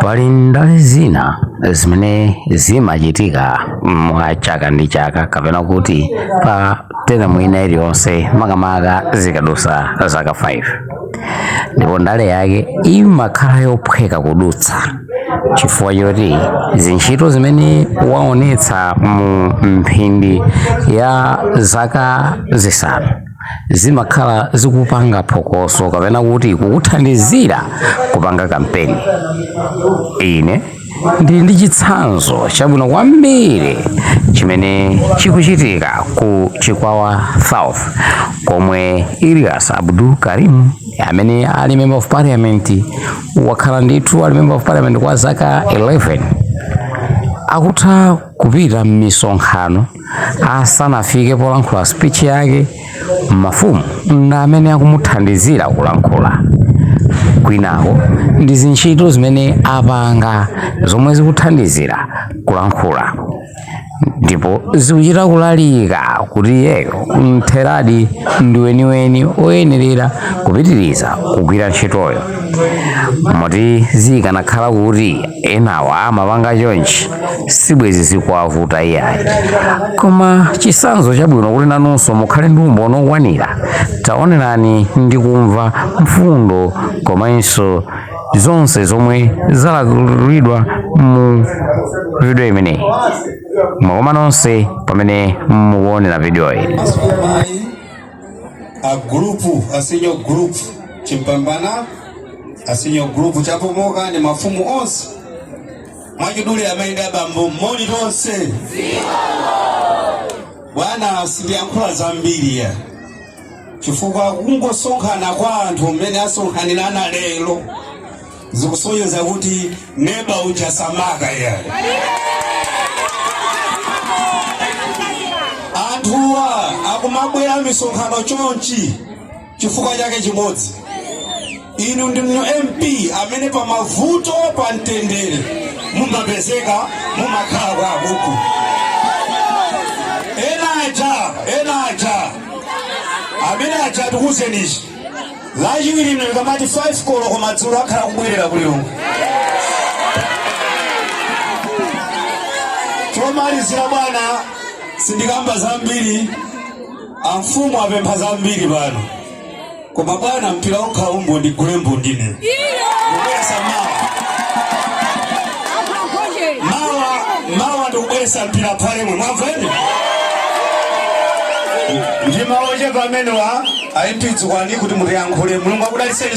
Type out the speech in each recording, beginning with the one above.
pali ndale zina zimene zimachitika mwa chaka ndi chaka kapena kuti pa teremu ina iliyonse makamaka zikadusa zaka 5 ndipo ndale yake imakhala yophweka kudutsa chifukwa choti zintchito zimene waonetsa mu mphindi ya zaka zisanu zimakhala zikupanga phokoso kapena kuti kukuthandizira kupanga kampeni ine ndili ndi chitsanzo chabwino kwambiri chimene chikuchitika ku chikwawa south komwe ilias abdul karim amene ali member of parliament wakhala ndithu ali member of parliament kwa zaka 11 akutha kupita m'misonkhano asanafike polankhula speech yake mafumu ndi amene akumuthandizira kulankhula kwinako ndi zintchito zimene apanga zomwe zikuthandizira kulankhula ndipo zikuchita kulalika kuti iyeyo mtheradi ndi weniweni oyenerera kupitiriza kugwira ntchitoyo moti zikanakhala kuti enawa amapanga chonchi sibwezi zikuwavuta iyayi koma chisanzo chabwino kuti nanunso mukhale ndi umboni okwanira taonerani ndi kumva mfundo komanso zonse zomwe zalankhulidwa mu video imeneyi mwakoma nonse pamene mukuonera video iyi a gulupu a senior gulupu chimpambana a senior gulupu chapomoka ni mafumu onse mwachidule amayi ndi abambo moni tonse bwana sindiyankhula zambiri iyayi chifukwa kungosonkhana kwa anthu mmene asonkhanira lero zikusonyeza kuti neba uja samakha iyayi anthuwa akumabwera misonkhano chonchi chifukwa chake chimodzi inu ndi mp amene pa mavuto pa mtendere mumapezeka mumakhala kwawo kuno ena aja ena aja amene aja tikuwuzeni chi lachiwiri lino ikamati 5 koloko madzulo akhala akubwerera ku lilongwe chomalizira bwana sindikamba zambiri amfumu apempha zambiri pano koma bwana mpira okha umbo ndigule mbundine kubweresa mawa mawa mawa ndikubweresa mpira pomwe mwamveni ndi mawu ochepa amenewa a mp dzukani kuti mutiyankhule mulungu akudaliseni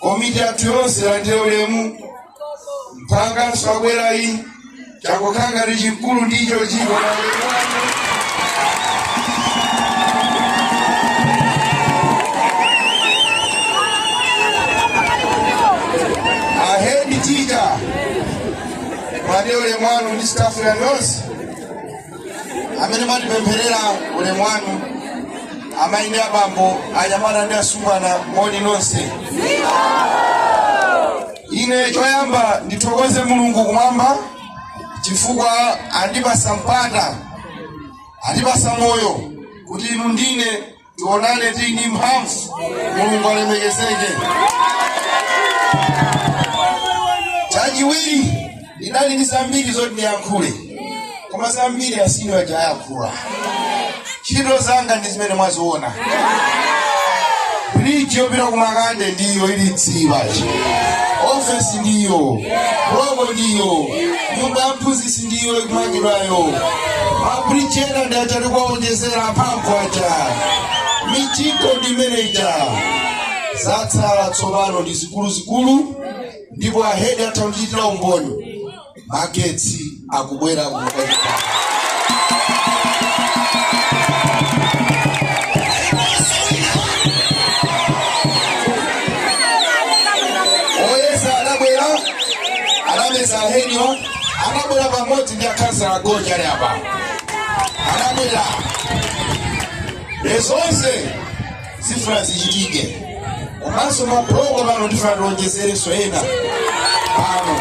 komiti yathu yonse landire ulemu mphanganso abwerayi changokhala ngati chikulu ndicho chiko ahedi titcha mwade ulemu wanu ndi stafu yanu yonse amene mwatipempherera ulemu wanu amayi ndi abambo anyamata ndi asungwana moni nonse ine choyamba ndithokoze mulungu kumwamba chifukwa andipasa mpata andipasa moyo kuti inu ndine tionane tili ndi mphamvu mulungu alemekezeke chachiwiri ndidali ndi zambiri zoti ndiyankhule koma zambiri asini waja ayankhula ntchito zanga ndi zimene mwaziona bridge yopita kumakande ndiyo ili tsibachi ofesi ndiyo buloko ndiyo nyumba ya mphunzitsi ndiyo ikumangidwayo mabridge ena ndi aja tikuwaonjezera mphamvu aja mijigo ndi imene ija zatsala tsopano ndi zikuluzikulu ndipo ahedi atha kundichitira umboni magetsi akubwera kumukachita anameza henyo anabwera pamodzi ndi akhansala agonja ali apa anabwera nde zonse zifuna zichitike komanso mabuloko pano ndifuna tiwonjezerenso ena pano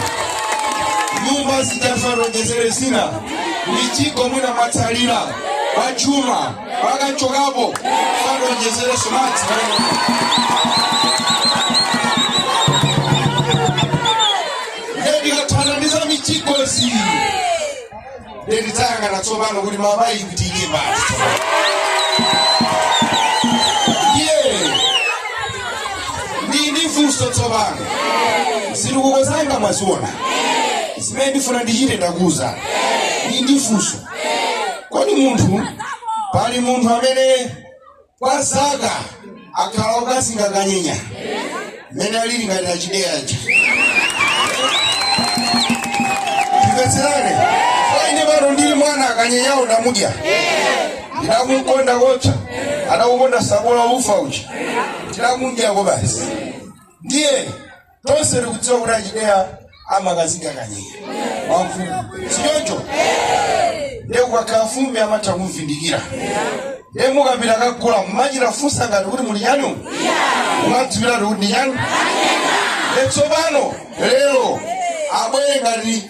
nyumba zija ndifuna tiwonjezere zina mijigo mwina mwatsalira kwa chuma mpaka nchokapo tiwonjezerenso madzi ndikathana ndi za mijigozi nde tidzayang'ana tsopano kuti mama ikutike basi ndiye ndili ndi funso tsopano zitukuko zanga mwaziona zimene ndifuna ndichite ndakuuzani ndili ndi funso kodi munthu pali munthu amene kwa zaka akhala akukazinga kanyenya mmene alili ngati achideya aja tikatsilane faine pano ndili mwana akanyenyawo ndamudya ndinamukonda kocha adakukonda tsabola ufa uchi ndinamudyako basi ndiye tonse tikudziwa kuti achideya amakazinga kanyenya wamfumu sichoncho ndiye kukakhala fumbi amatha kumvindikira ndiye mukapita kukagula mmachita funsa ngati kuti muli chanu mumadziwiratu kuti ndi chanu ndiye tsopano lero abwere ngati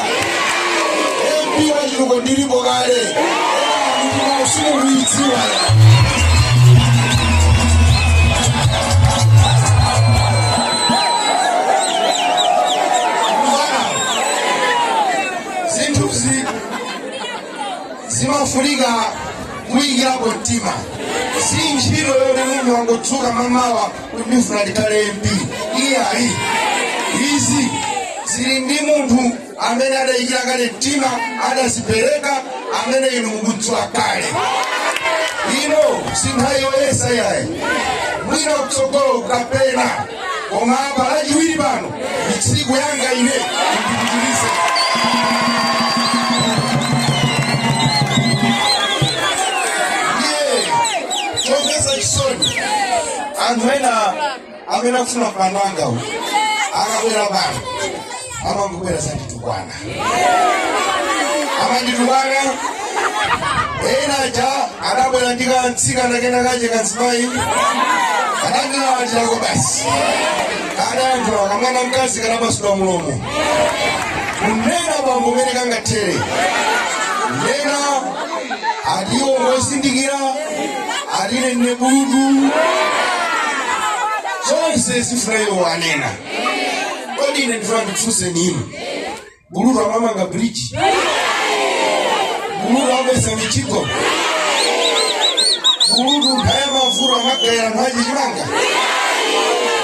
MP wa chituko ndilipo kale ndime usinkhu kuidziwa zinthu zi mafunika kuyikirapo mtima si ntchito yonena munthu wangodzuka mamawa kuti ndifuna ndikhale mp iyayi izi zili ndi munthu amene adayikira kale mtima adadzipereka amene inu mukudziwa kale ino si nthawi yoyesa yayi mwina kutsogolo kapena koma apa lachiwiri pano Ndi tsiku langa ine ndipitirize. Ndiye chomvetsa chisoni anthu ena amene akufuna mpando wanga uyu akabwera pano amangobwera kudzanditukwana amanditukana enaja adabwera ndi kamtsikana kena kache kanzimayi adandilawatirako basi adayankhula kamwana mkazi kanamasula mulomo kunena bambo umene kangathere kunena ati iwo ngozindikira ati ine ndine bulutu zonse zofuna iwo anena kodi ine ndifuna ndifunse inu bulutu amamanga bridge bulutu amakhesa mijigo bulutu nthawi ya mavuto amagawira anthu chimanga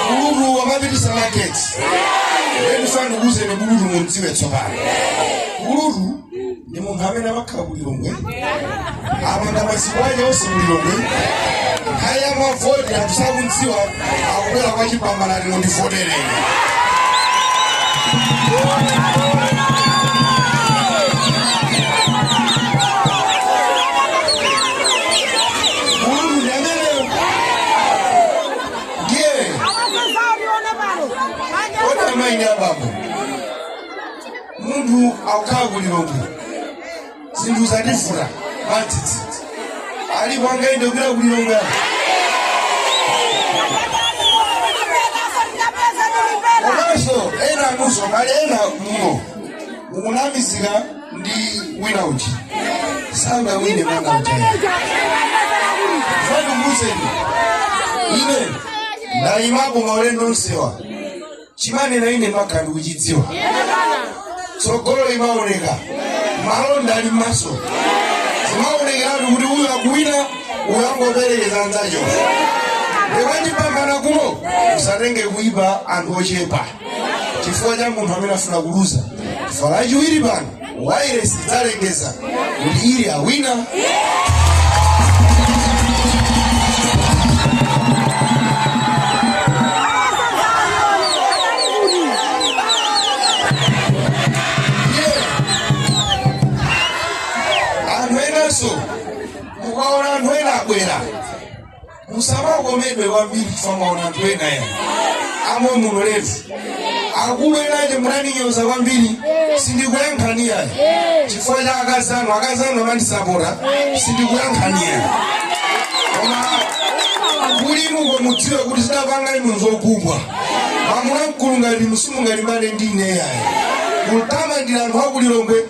bulutu amapitisa magetsi ndifuna ndikuuzeni bulutu mumdziwe tsopano bulutu ndi munthu amene amakhala ku lilongwe amatha masiku ake onse ku lilongwe nkhani ya mavoti anthu sakumdziwa akubwera kwa chipambana ali mundivotere bulutu ndi ameneyo ndiye kodi amayi ndi abambo munthu akukhala ku lilongwe zinthu zativuta matsitsi ali kwanga ine kupita ku lilongwe apa komanso ena anunso ngati ena muno mukunamizika ndi wina uti si nganga ine mwana mtaya fani muuzeni ine ndayimapo maulendo onsewa chimanena ine mmakhala ndikuchidziwa tsogolo limaoneka malonda ali m'maso zimaonekeratu kuti uyu akuwina uyu angoperekeza anzacho nde wachipambana kuno usatenge kuipa anthu ochepa chifukwa cha munthu amene afuna kuluza chifukwa lachiwiri pano wairesi idzalengeza kuti ili awina anthu enanso mukaona anthu ena abwera musamakomedwe kwambiri chifukwa mwaona anthu ena yayi amwe muno leti akulu enache munandinyoza kwambiri sindikuyankhani yayi chifukwa cha akazi anu akazi anu amandisapota sindikuyankhani yayi koma kuli inuko mudziwe kuti zidapanga inu zokubwa mamuna mkulu ngati inu simungalimbane ndi ine yayi kutamandira anthu aku lilongwe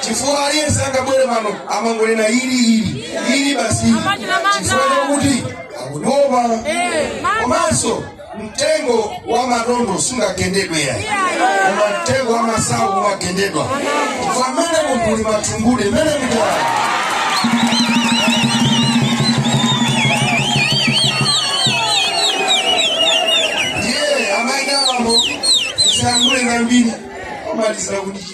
chifukwa aliyense angabwere pano amangonena ili ili ili basi chifukwa chakuti akutopa komanso mtengo wa matondo sungagendedwe yayi koma mtengo wa masawu umagendedwa chifukwa mmene munthu limathumbude mmene mutala ndiye amayi ndi abambo tisatchule zambiri omalizira kuti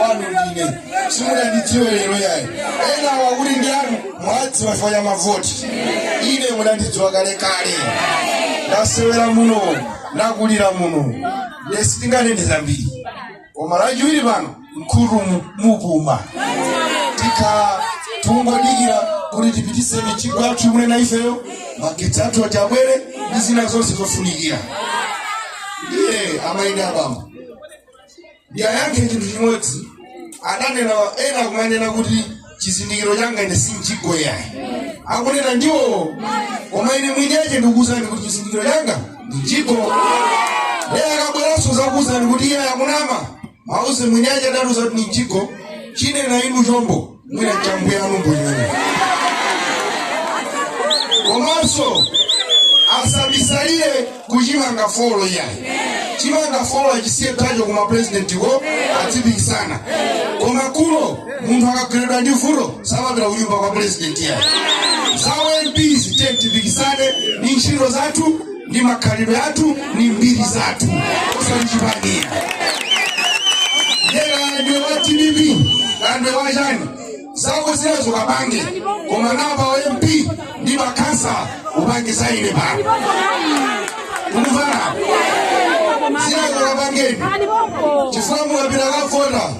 wanu ndine simunandidziwe lero yayi ena awa kuti ndi anu mwadziwa chifukwa cha mavoti ine munandidziwa kale kale ndasewera muno ndakulira muno ndiye sitinganene zambiri koma lachiwiri pano mkulu mu- mupuma tikhala tungodikira kuti tipitise mijigo yathu imene na ifeyo magetsi athu ati abwere ndi zina zonse zofunikira ndiye amayi ndi abambo ndiwayankhe chinthu chimodzi adanena ena kumanena kuti chizindikiro changa ine si mjigo yayi akunena ndiwo koma ine mwini yache ndikuwuzani kuti chizindikiro changa ndi mjigo lero akabweranso zakuwuzani kuti yayi akunama mauze mwini yache adatiuza kuti ndi mjigo chinena inu chombo mwina chambuyanu mbuyuni komanso asabisalire kuchimanga folo iyayi chimanga folo achisiye tacho kuma president ko adzipikisana koma kuno munthu akagweredwa ndi vuto samapita kunyumba kwa president iyayi za u mp zi tiyeni tipikisane ndi ntchito zathu ndi makhalidwe athu ndi mbiri zathu osati chipaniya nde kaya ndiwe wa dpp kaya ndiwe wa chani zako zinazo kapange koma apa wa mp ndi makhansala upange za ine pano tikumvana zinazo kapangeni chifukwa mukapita kavota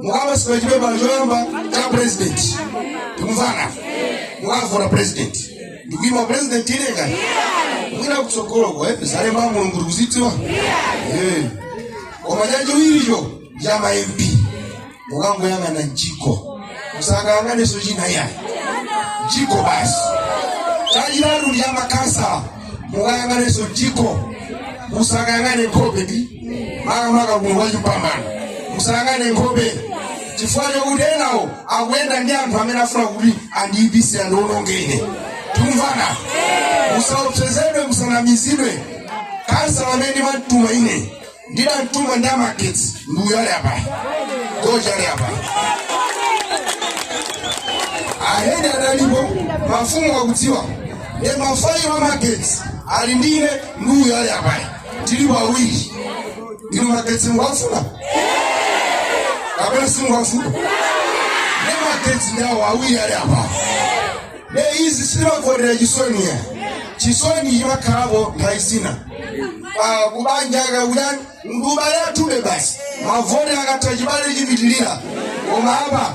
mukapatsidwa chipepala choyamba cha president tikumvana mukavota president ndikuima president ine kaya mwina kutsogoloko eh zalemba mulungu tikuzidziwa Eh. koma chachiwiricho cha ma mp mukangoyang'ana mchiko musakayang'aneso china iyayi mchiko basi chachitatu ndi cha makhansala mukayang'aneso mchiko musakayang'ane nkhope ndi makamaka kuno kwa chipambano musayang'ane nkhope chifukwa chokuti enawo akuyenda ndi anthu amene afuna kuti andiyipise andiwonongene tikumvana musaopsezedwe musanamizidwe kansala amene ndimamtuma ine ndidamtuma ndi za magetsi ndiuyo ali apa goja ali apa ahedi analipo mafumu akudziwa nde mafailo amagetsi ali ndine ndiuyo ali apayi tili pawiri ndinu magetsi mukuwafuna kapena simukuwafuna ne magetsi ndawo awiri ali apa ne izi simakondera chisoniya chisoni chimakhalapo nthawi zina pa kubanja kwa uyu ndi m'bale wathu ndiye basi mavoti akatha chibale chipitirira koma apa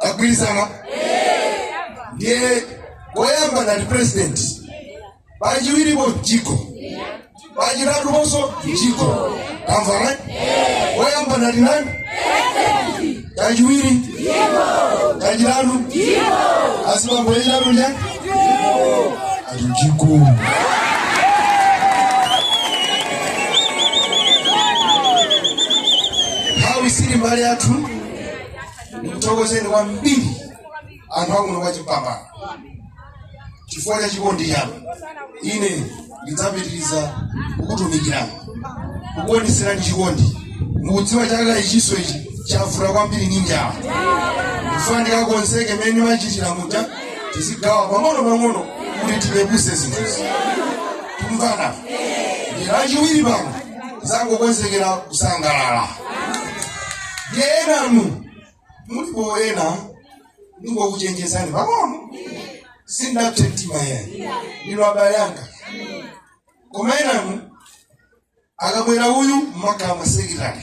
tagwirizana ndiye woyamba ngati president pachiwiripo mchiko pachitatuponso mchiko tamvana woyamba ngati nani chachiwiri chachitatu asibambo yachitatu ndi chani ati mchiko nthawi sili kumbali yathu ndikuthokozeni kwambiri anthu akuno kwa chipambano chifukwa cha chikondi chanu ine ndidzapitiriza kukutumikirani kukuoneserani chikondi mukudziwa chaka ichinso ichi chavuta kwambiri ndi njala ndifuna ndikakonzeke mmene ndimachitira muja tizigawa pang'ono pang'ono kuti tipepuse zinthuzi tikumvana nde chachiwiri pano zangokonzekera kusangalala ndiye enanu mulipo ena ndingokuchenjezani pang'ono sindinapse mtima yayi ndinu abale anga koma enanu akabwera uyu mmakhala masekitali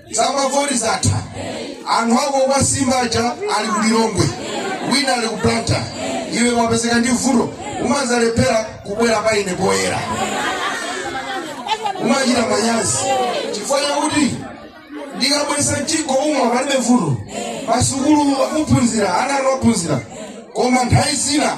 zamavoti zatha anthu ako okusimba aja ali ku lilongwe wina ali ku Blantyre iwe wapezeka ndi vuto umadzalephera kubwera pa ine poyera umachita manyazi chifukwa chakuti ndikabweretsa m'dziko muno palibe vuto masukulu akuphunzira ana anu aphunzira koma nthawi zina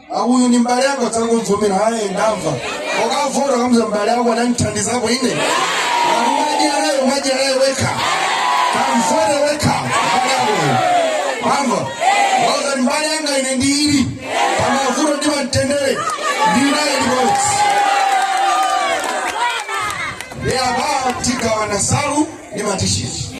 uyu ndi mbale wako tangomuvomera ayi ndamva ukavota kamuuza mbale wako anandithandizapo ine akumadyerayo umadyerayo wekha kamvote wekha mbale wakoyo mamva wauza ndi mbale wanga ine ndili pamavuto ndi pamtendere ndi nayo limodzi ndi apa tigawana nsalu ndi matishiti